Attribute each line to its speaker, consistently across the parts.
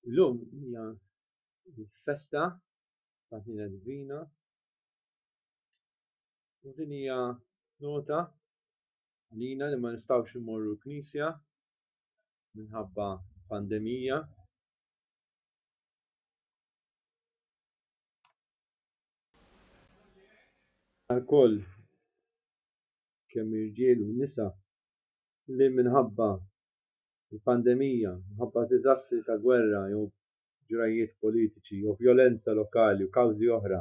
Speaker 1: Illum hija festa ta' ħniena divina u din hija nota għalina li ma nistgħux immorru l-Knisja minħabba pandemija. Alkoll kemm irġiel u nisa li minħabba il-pandemija, minħabba diżastri ta' gwerra jew ġrajjiet politiċi jew vjolenza lokali u kawżi oħra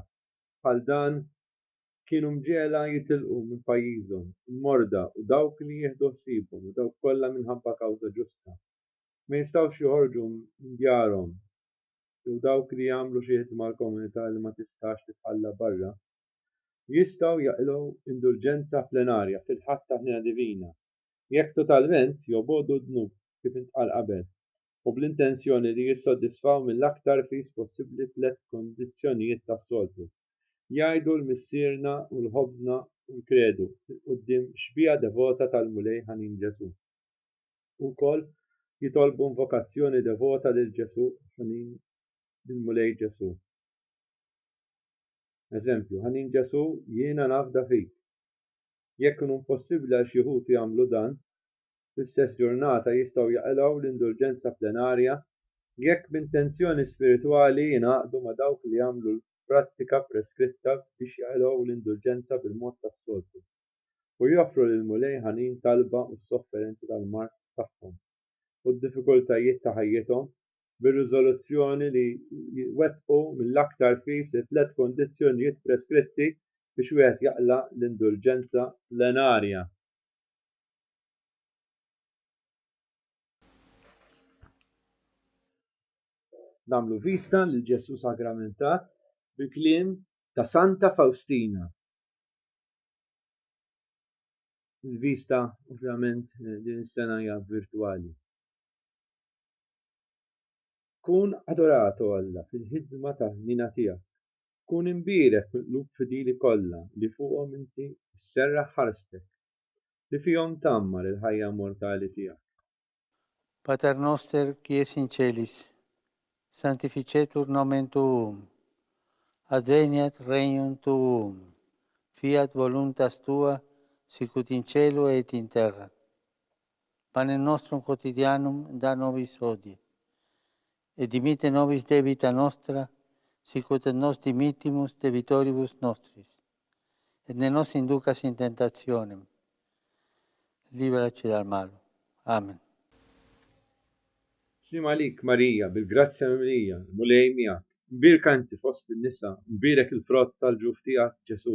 Speaker 1: bħal dan kienu mġegħla jitilqu minn pajjiżhom, il-morda u dawk li jieħdu ħsiebhom u dawk kollha minħabba kawża ġusta. Ma jistgħux joħorġu minn djarhom jew dawk li jagħmlu xi ħidma għall-komunità li ma tistax titħalla barra, jistgħu jaqilgħu indulġenza plenarja fil-Ħadd ta' Ħniena Divina. jekk totalment jew b'għodu d-dnub, kif intqal qabel, u bl-intenzjoni li jissodisfaw mill-aktar fis possibbli tliet kundizzjonijiet tas-soltu, jgħidu l-Missierna u l-Ħobżna u l-Kredu, quddiem xbieha devota tal-Mulej ħanin Ġesù. U wkoll jitolbu invokazzjoni devota lil Ġesù ħanin lill-Mulej Ġesù. Eżempju, Ħanin Ġesù, jiena nafda fik. Jekk ikun impossibbli għal xi wħud jagħmlu dan fl-istess ġurnata jistgħu jaqilgħu l-indulġenza plenarja jekk b'intenzjoni spiritwali jingħaqdu ma' dawk li jagħmlu l-prattika preskritta biex jaqilgħu l-indulġenza bil-mod tas-soltu u joffru lill-Mulej ħanin talba u s-sofferenzi tal-mard tagħhom u d-diffikultajiet ta' ħajjithom bir-riżoluzzjoni li jitwettqu mill-aktar fis it-tliet kundizzjonijiet preskritti biex wieħed jaqla' l-indulġenza plenarja. Nagħmlu vista lil Ġesù sagramentat bil-kliem ta' Santa Fawstina. Il-vista ovvjament din is-sena hija virtwali. Kun adorat, O Alla, fil-ħidma tal-ħniena tiegħek. Kun imbierek fil-qlub fidili kollha li fuqhom inti sserraħ ħarstek, li fihom tgħammar il-ħajja immortali tiegħek. Pater noster qui es in celis, sanctificetur nomen tuum, adveniat regnum tuum, fiat voluntas tua sicut in celo et in terra. pan e nostrum quotidianum da nobis hodie, et dimitte nobis debita nostra, sicut et nos dimittimus debitoribus nostris, et ne nos inducas in tentationem, liberaci dal malo. Amen. Slim għalik, Marija, bil-grazzja mimlija, l-Mulej miegħek. Mbierka inti fost in-nisa, u mbierek il-frott tal-ġuf tiegħek, Ġesù.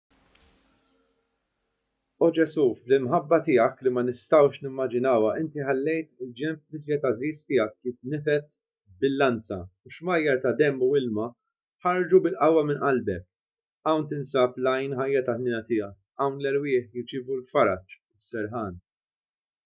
Speaker 1: O Ġesù, bl-imħabba tiegħek li ma nistgħux nimmaġinawha inti ħallejt il-ġenb l-iżjed għażiż tiegħek jitnifed bil-lanza u xmajjar ta' demm u ilma ħarġu bil-qawwa minn qalbek. Hawn tinsab l-għajn ħajja tal-ħniena tiegħek, hawn l-erwieħ jirċievu l-faraġ u s-serħan.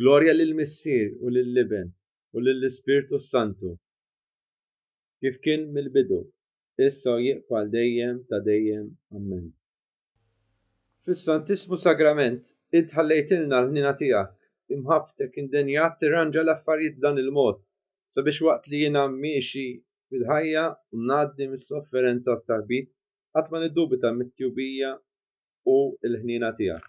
Speaker 1: Glorja lill-Missier u lill-Iben u lill-Ispirtu s-Santu, kif kien mill-bidu, issa u jibqa' għal dejjem ta' dejjem. Ammen. Fis-Santissmu Sagrament, Int ħallejtilna l-ħniena tiegħek, imħabbtek indenjat tirranġa l-affarijiet b'dan il-mod, sabiex waqt li jiena miexi fil-ħajja u ngħaddi mis-sofferenza u t-taħbit, qatt ma niddubita mit-tjubija u l-ħniena tiegħek.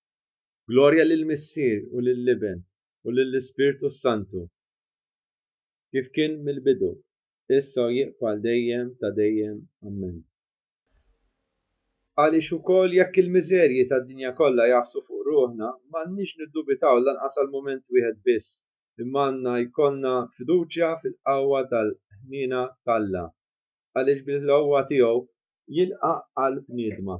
Speaker 1: Glorja lill-Missier u lill-Iben u lill-Ispirtu s-Santu, kif kien mill-bidu, issa u jibqa' għal dejjem ta' dejjem. Ammen. Għaliex ukoll jekk il-miżerji tad-dinja kollha jagħfsu fuq ruħna, m'għandniex niddubitaw lanqas għal mument wieħed biss, imma għandna jkollna fiduċja fil-qawwa tal-ħniena t'Alla, għaliex bil-qawwa tiegħu jilqa' għall-bniedma.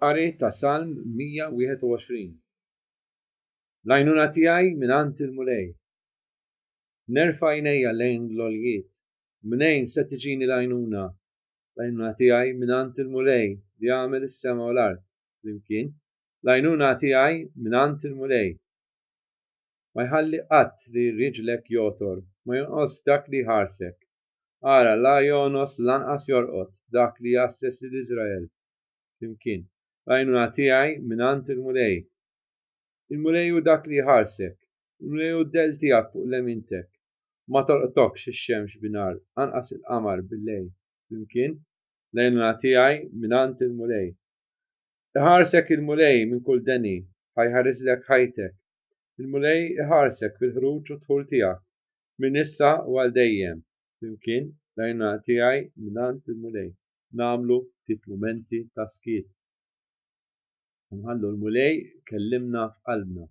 Speaker 1: Qari ta' Salm 121 L-għajnuna tiegħi mingħand il-Mulej. Nerfa' għajnejja lejn l-għoljiet. Mnejn se tiġini l-għajnuna? L-għajnuna tiegħi mingħand il-Mulej li għamel is-sema u l-art flimkien. L-għajnuna tiegħi mingħand il-Mulej. Ma jħalli qatt li riġlek jogħtor, ma jonqosx dak li jħarsek. Ara, la jogħnos lanqas jorqod dak li jgħasses lil Iżrael flimkien. L-għajnuna tiegħi mingħand il-Mulej. Il-Mulej hu dak li jħarsek. Il-Mulej hu d-dell tiegħek fuq lemintek. Ma tolqtokx ix-xemx bin-nhar, anqas il-qamar bil-lejl flimkien. L-għajnuna tiegħi mingħand il-Mulej. Iħarsek il-Mulej minn kull deni, ħa jħarislek ħajtek. Il-Mulej iħarsek fil-ħruġ u d-dħul tiegħek, Minn issa u għal dejjem. Flimkien, bl-għajnuna tiegħi mingħand il-Mulej. Nagħmlu ftit mumenti ta' skiet. U nħallu l-Mulej ikellimna f'qalbna.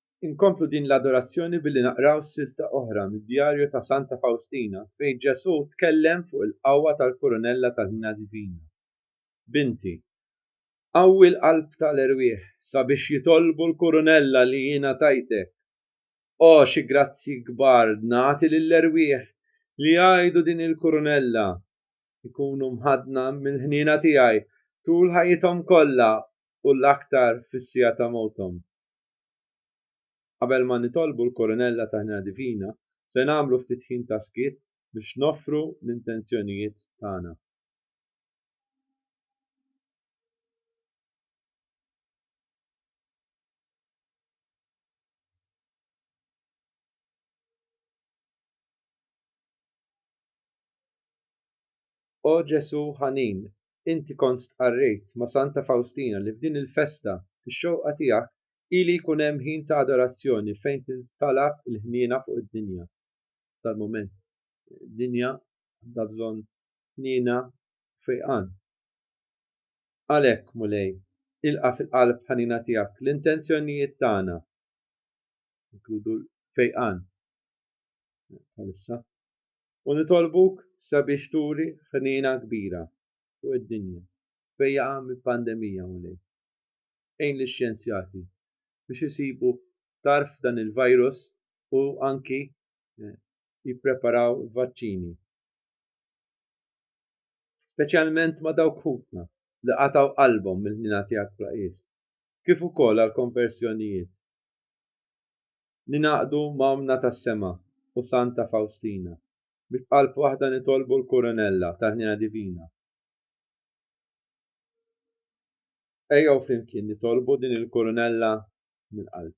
Speaker 1: Inkomplu din l-adorazzjoni billi naqraw silta oħra mid-Djarju ta' Santa Fawstina fejn Ġesù tkellem fuq il-qawwa tal-kurunella tal-ħniena divina, Binti, qawwi l-qalb ta' l-erwieħ sabiex jitolbu l-kurunella li jiena tajtek. O, xi grazzji kbar ngħati lill-erwieħ li jgħidu din il-kurunella, ikunu mħaddna mill-ħniena tiegħi tul ħajjithom kollha u l-aktar fis-siegħa ta' mewthom. Qabel ma nitolbu l-Kurunella ta' Ħniena Divina, se nagħmlu ftit ħin ta' skiet biex noffru l-intenzjonijiet tagħna. O Ġesù ħanin, inti kont stqarrejt ma' Santa Fawstina li f'din il-festa, fix-xewqa tiegħek, ili jkun hemm ħin ta' adorazzjoni fejn tintala l-ħniena fuq id-dinja. Tal-mument, id-dinja għandha bżonn ħniena u fejqan. Għalhekk, Mulej, ilqa' fil-qalb ħanina tiegħek l-intenzjonijiet tagħna, inkludu l-fejqan bħalissa. U nitolbuk sabiex turi ħniena kbira fuq id-dinja fejn jaqa' mill-pandemija, Mulej. Għin lix-xjenzjati biex isibu tarf f'dan il-virus u anki jippreparaw vaċċini. Speċjalment ma' dawk ħutna li qatgħu qalbhom mill-ħniena tiegħek bla qies, kif ukoll għall-konversjonijiet. ningħaqdu ma' Ommna tas-Sema u Santa Fawstina, biex b'qalb waħda nitolbu l-Kuronella tal-Ħniena Divina. Ejjew flimkien nitolbu din il-Kuronella mill-qalb.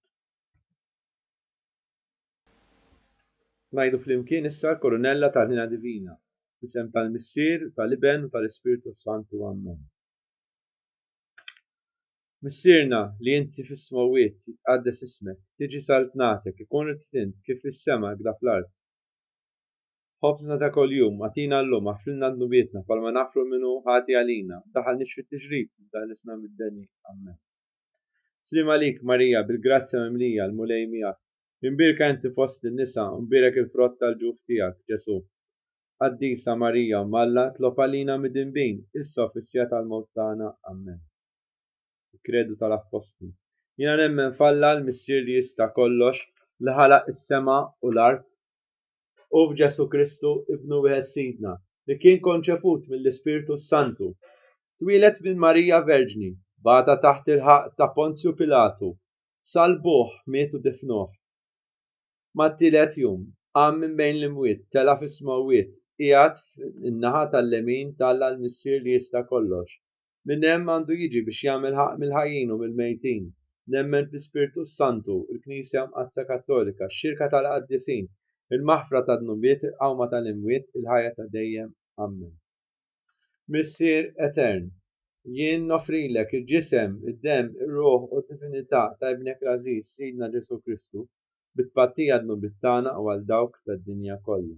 Speaker 1: Ngħidu flimkien issa l-Kuronella tal-Ħniena Divina, fl-isem tal-Missier, tal-Iben u tal-Ispirtu s-Santu. Amen. Missierna li inti fis-smewwiet, jitqaddes ismek, tiġi saltnatek, ikun ridt int, kif fis-sema hekk da fl-art. Ħobżna ta' kuljum, agħtina llum, aħfrilna dnubietna, bħalma naħfru min hu ħati għalina, u daħalniex fit-tiġrib, iżda ħlisna mid-deni. Ammen. Sliem għalik, Marija, bil-grazzja mimlija, l-Mulej miegħek. Imbierka inti fost in-nisa, u mbierek il-frott tal-ġuf tiegħek, Ġesù. Qaddisa Marija, Omm Alla, tlob għalina midinbin, issa u fis-siegħa tal-mewt tagħna. Ammen. Il-Kredu tal-Appostli. Jiena nemmen f'Alla l-Missier li jista' kollox li ħalaq is-sema u l-art u f'Ġesù Kristu Ibnu wieħed Sidna li kien konċeput mill-Ispirtu s-Santu, twieled minn Marija Verġni, bata taħt il-ħaqq ta' Ponzju Pilatu, salbuh, miet u difnuh. Mat-tielet jum, qam minn bejn l-imwiet, tela' fis-smewwiet, qiegħed fin-naħa tal-lemin t'Alla l-Missier li jista' kollox. Minn hemm għandu jiġi biex jagħmel ħaqq mill-ħajjin u mill-mejtin. Nemmen fl-Ispirtu s-Santu, il-Knisja Mqaddsa Kattolika, x-xirka tal-qaddisin, il-maħfra tad-dnubiet, il-qawma tal-imwiet, il-ħajja ta' dejjem. Ammen. Missier Etern, jien noffrilek il-ġisem, id-demm, ir-ruħ u d-divinità ta' Ibnek l-għażiż, Sidna Ġesù Kristu, bi tpattija d-dnubiet tagħna u għal dawk tad-dinja kollha.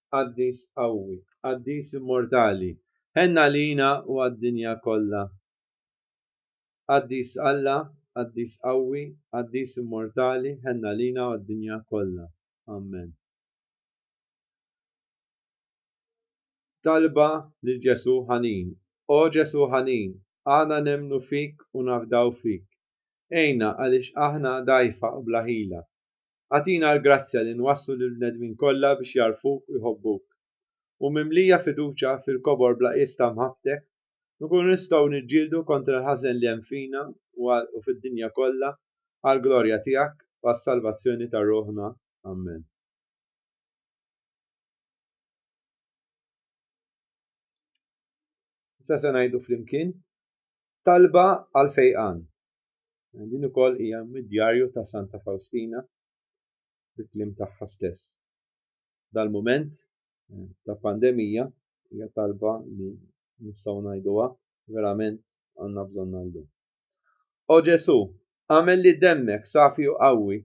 Speaker 1: Qaddis qawwi, Qaddis immortali, ħenn għalina u għad-dinja kollha. Qaddis Alla, Qaddis qawwi, Qaddis immortali, ħenn għalina u għad-dinja kollha. Amen. Talba lil Ġesù ħanin, O Ġesù ħanin, aħna nemmnu fik u nafdaw fik. Għinna għaliex aħna dgħajfa u bla ħila. Agħtina l-grazzja li nwasslu lill-bnedmin kollha biex jagħrfuk u jħobbuk. U mimlija fiduċja fil-kobor bla qies ta' mħabbtek, nkunu nistgħu niġġieldu kontra l-ħażen li hemm fina u fid-dinja kollha għall-glorja tiegħek u għas-salvazzjoni ta' ruħna. Amen. Issa se ngħidu flimkien talba għall-fejqan. Din ukoll hija mid-djarju ta' Santa Fawstina bi kliem tagħha stess. Dal-mument eh, ta' pandemija hija talba li nistgħu ngħiduha verament għandna bżonn llum. O Ġesu, għamel li demmek safi u qawwi,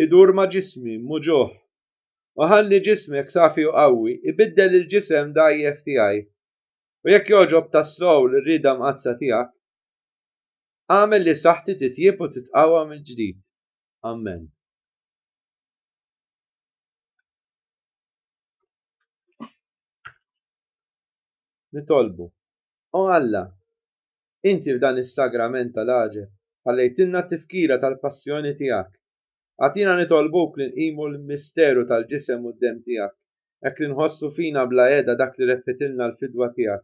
Speaker 1: idur ma' ġismi muġuħ, u ħalli ġismek safi u qawwi ibiddel il-ġisem dgħajjef tiegħi. U jekk jogħġob tas-sow l-rieda mqaddsa tiegħek, Agħmel li saħħti titjieb u titqawwa mill-ġdid. Amen. Nitolbu. O Alla, inti f'dan is-sagrament tal-għaġeb ħallejtilna t-tifkira tal-passjoni tiegħek. Agħtina nitolbuk li nqimu l-misteru tal-ġisem u d-demm tiegħek, hekk li nħossu fina bla heda dak li reppitilna l-fidwa tiegħek.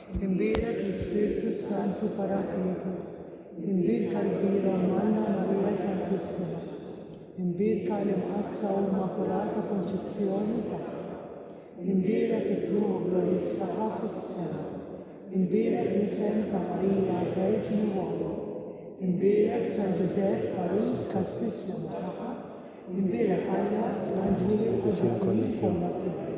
Speaker 1: Inbierek l-Ispirtu s-Santu Paraklitu, inbierka l-kbira Malla Marija Santissima, inbierka l-Imqaddsa u Immakulata Konċizzjoni tagħha, inbierek it-tlugħ glorjuż tagħha fis-sema, inbierek l-isem ta' Marija Verġni Walu, inbierek San Ġużepp Għarus Kastissimo tagħha, inbierek Alla fl-anġli u l-quddisin kollha tiegħu.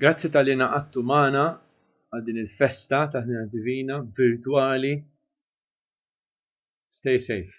Speaker 1: Grazzi tal-li naqattu magħna għal din il-festa ta' ħnina divina virtwali. Stay safe.